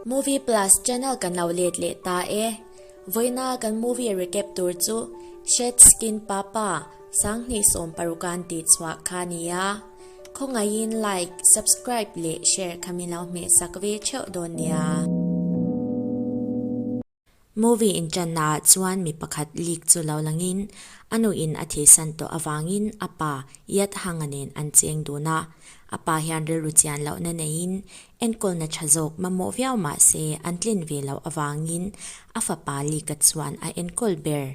Movie Plus channel ka nauh let leh ta e. Vawiina kan movie recap tur chu Shed Skin Papa, Sanghnih Sawm Paruka an tih chhuah kha a ni a. Khawngaihin like, subscribe leh share kha min lo hmeh sak ve theuh dawn nia. Movie inṭanna ah chuan mi pakhat lik chu lo langin a nu in a thihsan tawh avangin a pa Yat Hanga nen an cheng dun a, a pa hian rilru chian lohna neiin enkawlna ṭha zawk mamawh viau mahse an tlin ve loh avangin a fapa lika chuan a enkawl ber.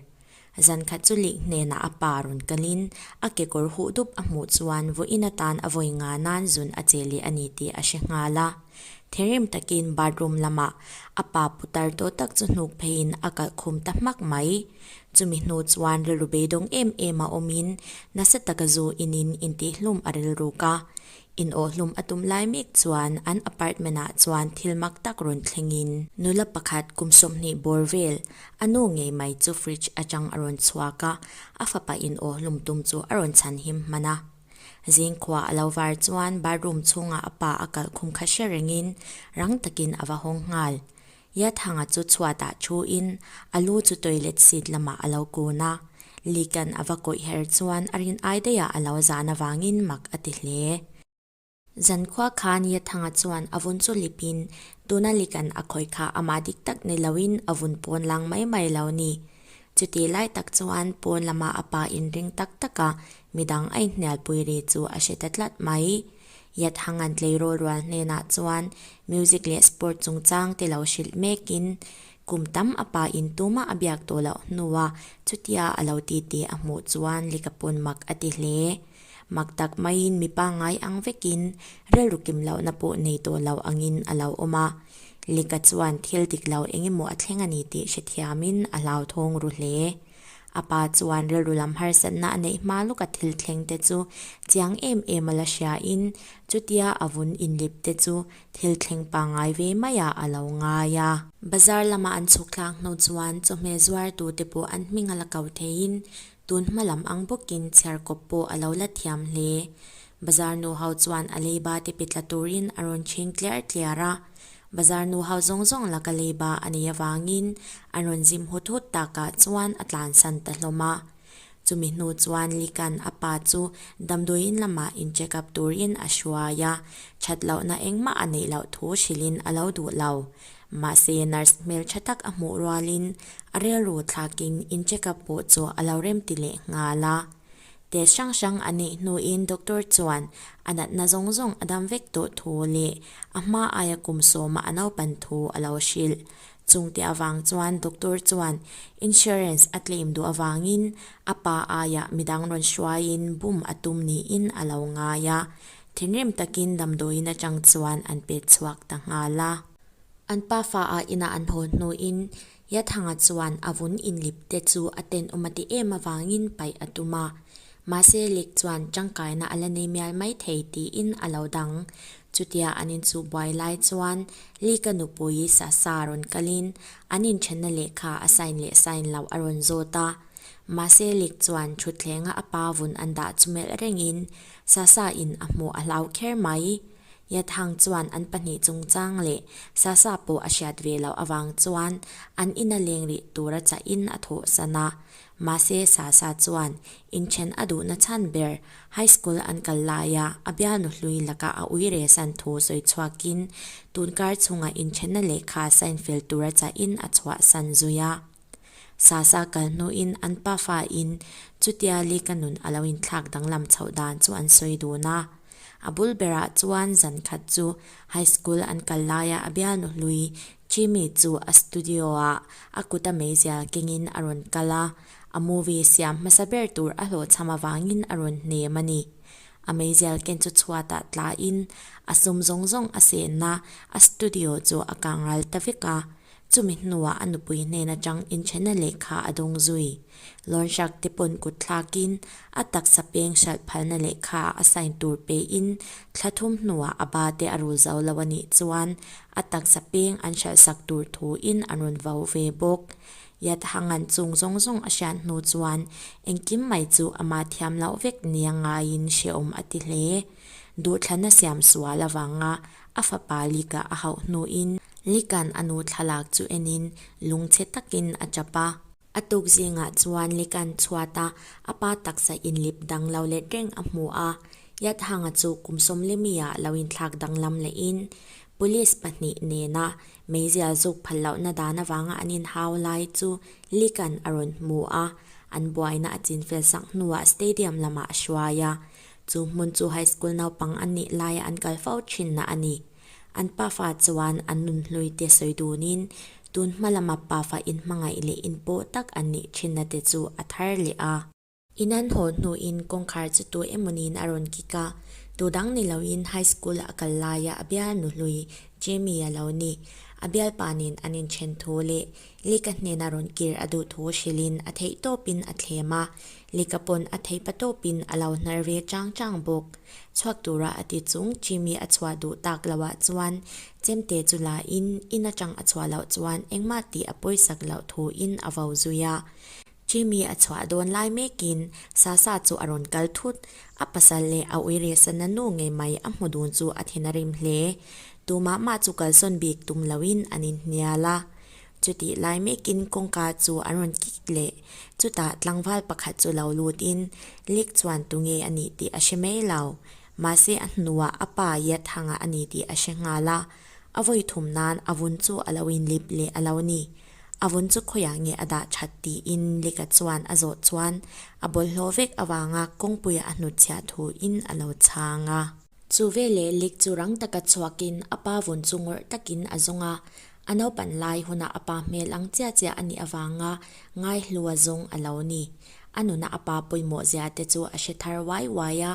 Zan khat chu Lik hnenah a pa rawn kalin, a kekawr huh dup a hmuh chuan vawiin atan a vawi nga nan zun a che leh a ni tih a hre nghal a. Thinrim takin bathroom lamah a pa putar tawh tak chu hnuk pheiin a kalh khum ta hmak mai. Chumi hnu chuan rilru beidawng em em a awmin, Nasa taka zu inin intihhlum a rilruk a. In aw hlum a tum lai mek chuan an apartment ah chuan thil mak tak rawn thleng in, nula pakhat kum sawmhnih bawr vel a nu ngei mai chu fridge atang a rawn chhuak a, a fapa in aw hlum tum chu a rawn chhan him hman a. Zing khua a lo var chuan bathroom chhungah a pa a kalh khum kha hre reng in rang takin a va hawng nghal. Yathanga chu chhuatah thu in a lu chu toilet seat lamah a lo kun a, Likan a va kawih her chuan a rin ai daih ah a lo zan avangin mak a ti hle. Zan khua khan Yathanga chuan a vun chu lip in, tuna Likan a khawih kha amah dik tak nei lo in a vun pawn lang mai mai lo ni. Chuti lai tak chuan pawn lamah a pa in ring tak tak a midang aihnialpui ri chu a hre ta tlat mai. Yathangan tleirawl rual hnenah chuan music leh sport chungchang te lo hrilh mekin kum tam a pa in tuma a biak tawh loh hnu a, chutia a lo ti tih a hmuh chuan lika pawn mak a ti hle. Mak tak maiin mipa ngai ang vekin rilru kim lohna pawh nei tawh loh angin a lo awm a, lika chuan thil dik lo engemaw a thleng a ni tih hrethiamin a hlauthawng ru hle. A pa chuan rilru lam harsatna a neih hma lawka thil thleng te chu chiang em em a la hria in, chutia a vun inlip te chu thil thleng pangai ve mai ah a lo ngai a. Bazar lama an chhuk tlang hnu chuan chawhmeh zuar tu te pawh an hming a la kau thei in, tun hma lam ang bawk in chhiar kawp pawh a lo la thiam hle. Bazar nuho chuan a leiba tipi tla turin a rawn chhing tliar tliar a, bazar nuho zawng zawng laka leiba a nei avangin an rawn zim hut hut takah chuan a tlan san ta hlawm a. Chumi hnu chuan Likan a pa chu damdawiin lamah in check up turin a hruai a, that lohna engmah a neih loh thu hrilhin a lo duh lo. Mahse nurse hmeltha tak a hmuh rualin a relru thlakin in check up pawh chu a lo remti leh nghal a. Te hrang hrang a nih hnuin doctor chuan a natna zawng zawng a dam vek duh thu leh a hma aia kum sawma a naupan thu a lo hrilh. Chungte avang chuan doctor chuan insurance a claim duh avangin a pa aia midang rawn hruaiin bum a tum niin a lo ngai a. Thinrim takin damdawiin atang chuan an pet chhuak ta nghal a. An pa faa inah an haw hnuin Yathanga chuan a vun inlip te chu a tenawm a ti em avangin paih a tum a. Mahse Lik chuan tangkaina a la nei mial mai thei tiin a lo dang. Chutia an inchukbuai lai chuan Lika nupui Sasa a rawn kalin an inthenna lehkha a sign leh sign loh a rawn zawt a. Mahse Lik chuan thutthlengah a pa vun an dah chu melh rengin Sasa in a hmuh a hlau kher mai. Yathang chuan an pahnih chungchang leh Sasa pawh a hriat ve loh avang chuan an in a leng rih tur a chah in a thawhsan a. Mahse, Sasa chuan inthen a duhna chhan ber High School an kal laia a bialnu hlui laka a ui resan thu sawi chhuak in, tunkar chunga inthenna lehkha sign fel tur a chah in a chhuahsan zui a. Sasa kal hnuin an pa fa in chutia li ka nun a lo inthlak danglam chhoh dan chu an sawi dun a. A bul berah chuan zan khat chu High School an kal laia a bialnu hlui Jimmy chu a studio ah a kut a meizial kengin a rawn kal a, a movie siam hmasa ber tur a hlawhchham avangin a rawn hnem a ni. A meizial ken chu chhuatah tla in a sum zawng zawng a senna a studio chu a kangral ta vek a, Chumi hnuah a nupui hnen atang inchhena lehkha a dawng zui. Lawnhrak te pawn kut thlakin a taksa peng hralh phalna lehkha a sign tur pein thla thum hnuah a ba te a rul zo lo a nih chuan a taksa peng an hralh sak tur thu in an rawn vau ve bawk. Yathangan chung zawng zawng a hriat hnu chuan engkim mai chu amah thiam loh vek nia ngaiin hreawm a ti hle. Duhthlanna siam sual avanga A fapa Lika a hauh hnuin Likan a nu thlalak chu enin lung chhe takin a chap a. A tuk zingah chuan Likan chhuat a, a pa taksa inlip dang lo let reng a hmu a. Yathanga chu kum sawmle mia lo inthlak danglam lehin Police pahnih nena meizial zuk phal lohna dan avanga an inhau lai chu Likan a rawn hmu a. An buaina a chinfel sak hnuah Stadium lamah a hruai a. Chu hmun chu high school naupang an nih laia an kal fo thinna a ni. An pafa chuan an nun hluite sawi dunin tun hma lama pafa in hmangaih leh in paw tak an nih thinna te chu a thar leh a. In an haw hnuin kawngkhar chu tu emaw niin a rawn kik a. Tu dang ni loin high school a kal laia a bialnu hlui Jamie-a lo ni. A bialpa nen an inthen thu leh Lika hnena rawn kir a duh thu hrilhin a theih tawpin a thlem a, lika pawn a theih pa tawpin a lo hnal ve chang chang bawk. Chhuak tura a ti chung Jimmy a chhuah duh tak lo ah chuan Chemte chu la in in atang a chhuah loh chuan engmah tih a pawisak loh thu in a vo zui a. Jimmy a chhuah dawn lai mekin Sasa chu a rawn kal thut. A pasal leh a uire sana nu ngei mai a hmu dun chu a then a rim hle. Tumah mah chu kalsawn bik tum loin an inhnial a. Chutih lai mekin kawngka chu an rawn kik leh. Chutah tlangval pakhat chu lo lutin, Lik chuan tunge a nih tih a hre mai lo. Mahse a hnuah a pa Yathanga a ni tih a hre nghal a. A vawi thum nan a vun chu a lo inlip leh a lo ni. A vun chu khawiah nge a dah that tiin Lika chuan a zawh chuan a bawlhhlawh vek avanga kawngpuia a hnut chhiah thu in a lo chhang a. Chu veleh Lik chu rang taka chhuakin a pa vun chu ngawrh takin a zawng a. A naupan lai hunah a pa hmel ang chiah chiah a nih avanga ngaihlu a zung a lo ni. A nuna a pa pawimawh zia te chu a hre thar uai uai a.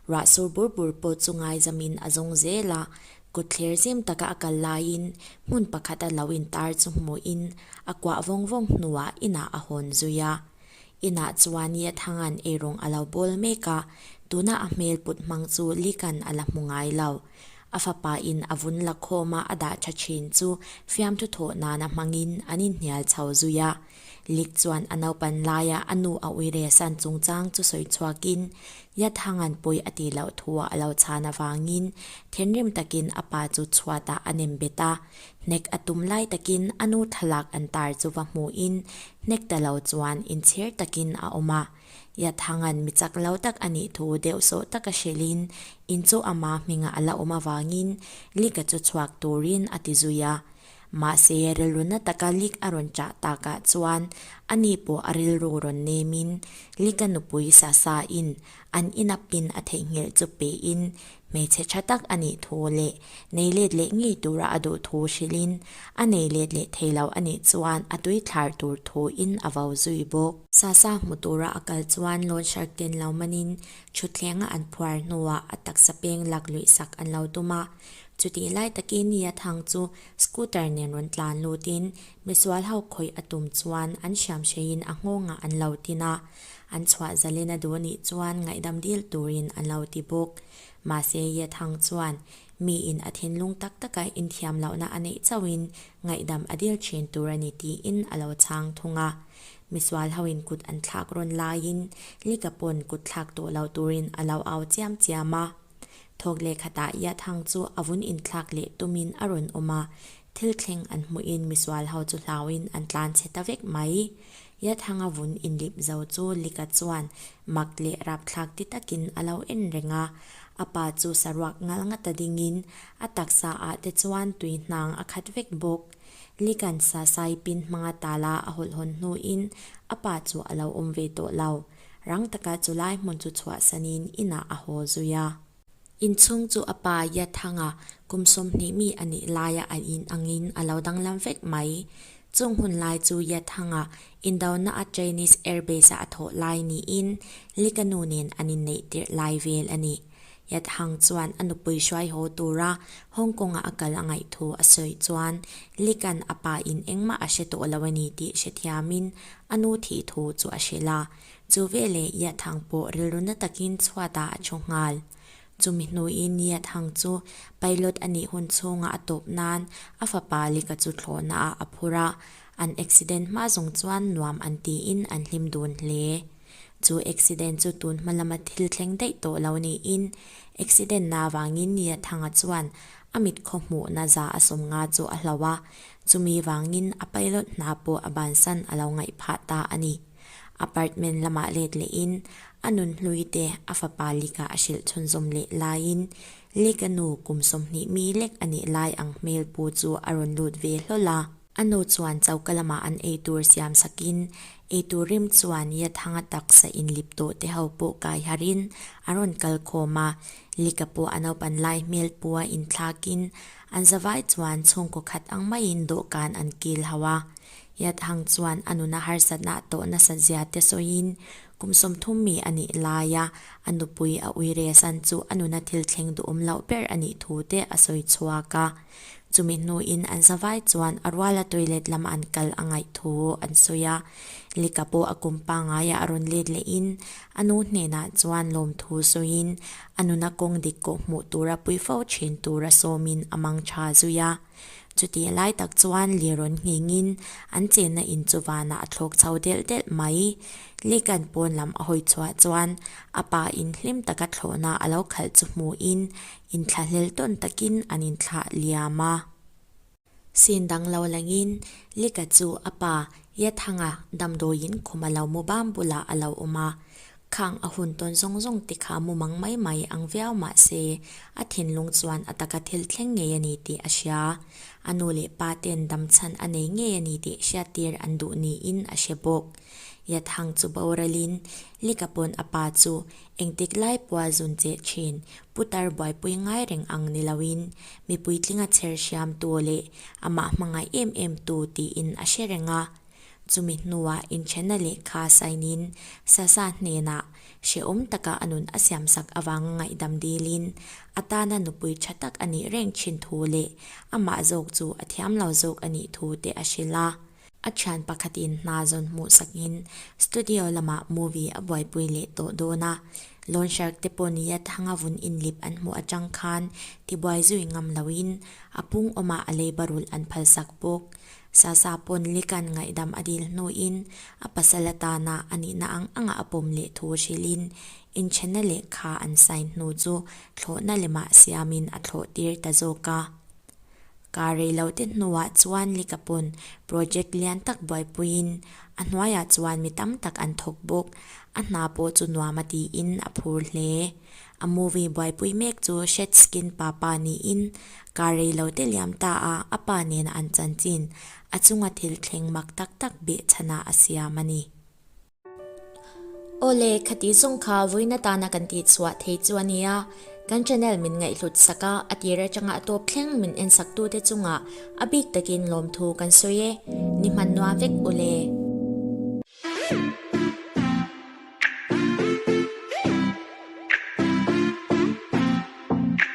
Ruah sur bur bur pawh chu ngaizamin a zung zel a. Kut thler zem taka a kal laiin hmun pakhat a lo intar chu hmuhin a kuah vawng vawng hnuah inah a hawn zui a. Inah chuan Niathanga'n eirung a lo bawl mek a, tuna a hmel put hmang chu Lika'n a la hmu ngai lo. A fapa in a vun lakhawma a dah tha thin chu fiamthu thawh nana hmangin an inhnial chho zui a. Lik chuan a naupan laia a nu a Uiresan chungchang chu sawi chhuakin Yathangan pawi a tih loh thu ah a lo chhan avangin thinrim takin a pa chu chhuat ah a nem bet a. Hnek a tum lai takin a nu thlalak an tar chu va hmuhin hnek ta lo chuan inchhir takin a awm a. Yathangan mi chak lo tak a nih thu deuh sawh tak a hrilhin in chu ama hmingah a la awm avangin Lik-a chu chhuak turin a ti zui a. Mahse, rilru na taka Lik a rawn chah tak ah chuan ani pawh a rilru rawn nem in Lik a nupui sa sa in an inap pin a theihnghilh chu pe in hmeichhe tha tak a nih thu leh nei let leh ngei tur a a duh thu hrilh in a nei let leh thei lo a nih chuan a tui thlar tur thu in a vau zui bawk. Sa sa hmu tur a a kal chuan Lawnsar ten lo man in thutthleng a an phuar hnu ah a taksa peng lak luih sak an lo tum a, Chutih lai takin Nia Thang chu scooter nen rawn tlan lut in misual ho khawih a tum chuan an hriam hrei in a nghawngah an lo tin a, an chhuah zal in a duh anih chuan ngaihdam dil tur in an lo ti bawk. Mahse Yia Thang chuan mi in a thinlung tak tak a inthiam loh na a neih chauh in ngaihdam a dil thin tur a ni tiin a lo chhang thung a. Misual ho in kut an thlak rawn lai in lika pawn kut thlak tawh lo tur in a lo au chiam chiam a. Thawk leh khatah Iathang chu a vun inthlak leh tumin a rawn awm a, thil thleng an hmuhin misual ho chu hlauin an tlan chhe ta vek mai. Iathanga vun inlip zo chu Lika chuan mak leh rapthlak ti takin a lo en reng a, a pa chu saruak ngal nga ta dingin a taksa ah te chuan tui hnang a khat vek bawk. Lika'n sasai pin hmanga tala a hawlh hawn hnuin a pa chu a lo awm ve tawh lo. Rang taka chu lai hmun chu chhuah sanin inah a haw zui a. Inchhung chu a pa Yathanga kum sawmhnih mi a nih laia a in angin a lo danglam vek mai. Chung hun lai chu Yathanga Indona a Chinese Air Base-a a thawh lai niin Likanu nen an inneih tirh lai vel a ni. Yat Hang chuan a nupui hruaihaw tura Hong Kong-a a kal a ngaih thu a sawi chuan Li Kan a pa in engmah a hre tawh lo a ni tih hrethiamin a nu thih thu chu a hrilh a. Chu veleh Yat Hang pawh rilru na takin chhuatah a thu nghal. Chumi hnuin Yat Hang chu pilot a nih hun chhunga a tawp nan a fapa Lika chu thlawhnaah a phur a, an accident hma zung chuan nuam an tiin an hlim dun hle. Chu accident chu tun hma lama thil thleng daih tawh lo niin, accident na avangin Nia Thanga chuan a mit khaw hmuh na za a sawm nga chu a hlo a, chumi vangin a pilot hna pawh a bansan a lo ngaih phah ta a ni. Apartment lamah let lehin a nunhlui te a fapa Lika a hrilh chhunzawm leh laiin Lika nu kum sawmhnih mi lek a nih lai ang hmel pu chu a rawn lut ve hlawl a, A nu chuan choka lamah an ei tur siam sakin, ei tur rim chuan ia thanga taksa inlip tawh te ho pawh kai harin a rawn kal khawm a. Lika pawh a naupan lai hmel pua inthlakin, an zavai chuan chhungkaw khat ang maiin dawhkan an kil ho a. Ia thang chuan a nuna harsatnah tawh nasa zia te sawiin, kum sawmthum mi a nih laia a nupui a uiresan chu a nuna thil thleng duhawm loh ber a nih thu te a sawi chhuak a. Chumi hnuin an zavai chuan a ruala toilet lam an kal a ngaih thu an sawi a. Lika pawh a kum pangai ah a rawn let leh in a nu hnenah chuan lawm thu sawi in a nuna kawng dik kawh hmuh tur a pui fo thin tur a sawm in a mang tha zui a. Chuti a lai tak chuan leh rawn ngheng in an chenna in chu van ah a thlawk chho delh delh mai. Lika'n pawn lam a hawi chhuah chuan a pa in hlim taka thlawhna a lo khalh chu hmuh in inthlahlel tawn takin an inthlah liam a. Sin dang lo langin Lika chu a pa Yathanga damdawiin khum a lo mu bam bulah a lo awm a. Khang a hun tawn zawng zawng te kha mu mang mai mai ang viau mah se, a thinlung chuan a taka thil thleng ngei a ni tih a hria. A nu leh pa ten dam chhan a nei ngei a ni tih hriattir an duh niin a hre bawk. Yathang chu boralin Lika pawn a pa chu engtik lai pawh a zun che thin, Putar buaipui ngai reng ang ni loin mi puitlinga chher hriamtu leh amah hmangaih em em tu tiin a hre reng a. Chumi hnuah inthenna leh kha sainin Sasa hnenah hrehawm taka a nun a siamsak avanga ngaihdam dilin a tana nupui tha tak a nih reng thin thu leh amah zawk chu a thiam lo zawk a nih thu te a hrilh a. A thian pakhatin hna zawn hmuhsakin studio lamah movie a buaipui leh tawh dawn a, Lawnserg te pawh nia thanga vun inlip an hmuh atang khan tibuai zui ngam loin a pungawmah a leibarul an phalsak bawk. Sasa pawn Likan ngaihdam a dil hnuin a pasal atana a nihna ang anga a pawm leh thu hrilhin inthenna lehkha an sign hnu chu thlawhna lemah siamin a thlawhtir ta zawk a. Kaa rei lo te hnuah chuan lika pawn project lian tak buaipuiin a hnuaiah chuan mi tam tak an thawk bawk. A hna pawh chu nuam a tiin a phur hle. A movie buaipui mek chu Shed Skin Papa niin kaa rei lo te liam ta a a pa nena an chanchin a chunga thil thleng mak tak tak beh chhanah a siam a ni. Aw le, khati zawng kha vawiin atana kan tih chhuah thei chu a nia, kan channel min ngaihhlut sak a, a tir atanga a tawp thleng min en sak tu te chunga a bik takin lawmthu kan sawi e, ni hmannuah vek u le.